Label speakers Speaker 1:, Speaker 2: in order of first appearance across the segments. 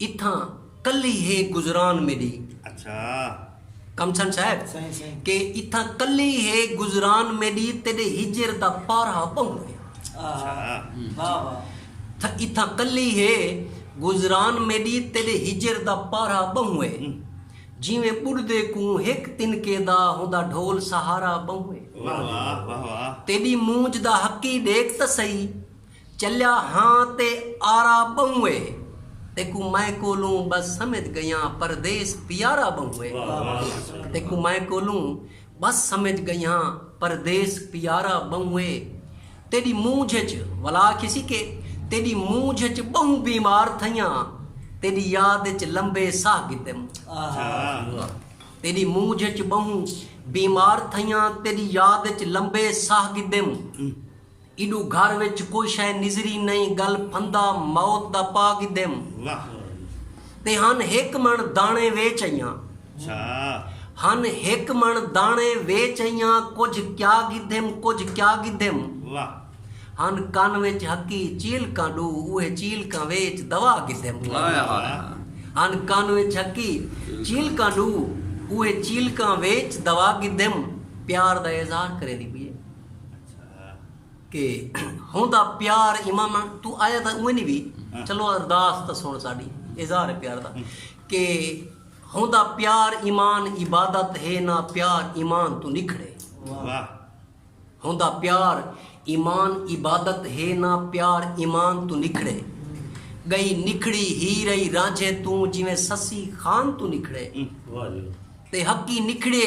Speaker 1: اتھاں کلی ہے گزران میݙی۔
Speaker 2: کمسن
Speaker 1: صاحب کہ
Speaker 3: اتھاں کلی
Speaker 1: ہے گزران میݙی تیݙے ہجر دا پارہ ٻہوں ہے۔
Speaker 3: اتھاں کلی ہے
Speaker 1: گزران میݙی تیݙے ہجر دا پارہ ٻہوں ہے۔ جیویں ٻݙدے کوں ہک تنکے دا ہوندا ڈھول سہارا ٻہوں
Speaker 2: ہے۔ تیݙی مونجھ دا
Speaker 1: حقی ݙیکھ تاں سہی۔ چلیا ہاں تے آرا ٻہوں اے۔ تیکوں میں کولوں ٻس سمجھ ڳئیاں پردیس پیارا ٻہوں اے۔ تیکوں میں کولوں ٻس سمجھ ڳئیاں پردیس پیارا ٻہوں اے۔ تیݙی مونجھ اچ ولا کھیسی کے تیݙی مونجھ اچ ٻہوں بیمار تھئیاں تیݙی یاد اچ لمبے ساہ گھتم۔ تیݙی مونجھ اچ ٻہوں بیمار تھئیاں تیݙی یاد اچ لمبے ساہ گھتم۔ ایڈو گھر وچ کوئی شئے نظری نئیں گل پھندا موت دا پا گھدیم
Speaker 2: تے
Speaker 1: ہن ہک مݨ داݨے ویچ ائیاں
Speaker 2: ہن
Speaker 1: ہک مݨ داݨے ویچ ائیاں کجھ کیا گھدیم کجھ کیا گھدیم
Speaker 2: ہن کن
Speaker 1: وچ ہکی چیلکاں ݙو اوہے چیلکاں ویچ دوا گھدیم ہن کن وچ ہکی چیلکاں ݙو اوہے چیلکاں ویچ دوا گھدیم پیار دا اظہار کریندی پئی اے کہ ہوندا پیار اماماں تو آیا دا اوہ نہیں بھی چلو ارداس تا سن ساڑی اظہار پیار دا کہ ہوندا پیار ایمان عبادت ہے نہ پیار ایمان تو نکھڑے ہوندا پیار ایمان عبادت ہے نہ پیار ایمان تو نکھڑے گئی نکھڑی ہی رہی رانجھے تو جویں سسی خان تو نکھڑے تے حقی نکھڑے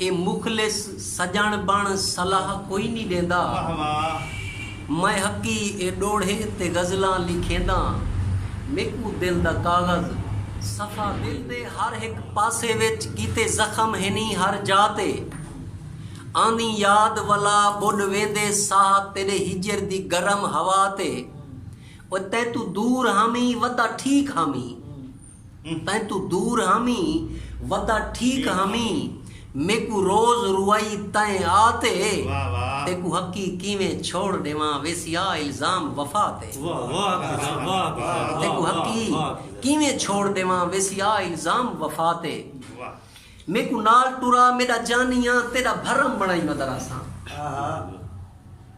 Speaker 1: اے مخلص سڄݨ بݨ صلاح کوئی نی ݙیندا۔ میں حقی اے ݙوڑھے تے غزلاں لکھینداں۔ میکوں دل دا کاغذ صفا دل دے ہر ہک پاسے وچ کیتے زخم ہنی ہر جا تے آندیں یاد ولا ٻݙ ویندے ساہ تیݙے ہجر دی گرم ہوا تے او تیتوں دور ہامی ودا ٹھیک ہامی۔ تیں توں دور ہامیں ودا ٹھیک ہامیں میکوں روز روائی تیں آ تے تیکوں حقی کیویں چھوڑ ڈیواں ویسیا الزام وفا تے تیکوں حقی کیویں چھوڑ ڈیواں ویسیا الزام وفا تے میکوں نال ٹرا میڈا جانیاں تیڈا بھرم بنائی مدراساں۔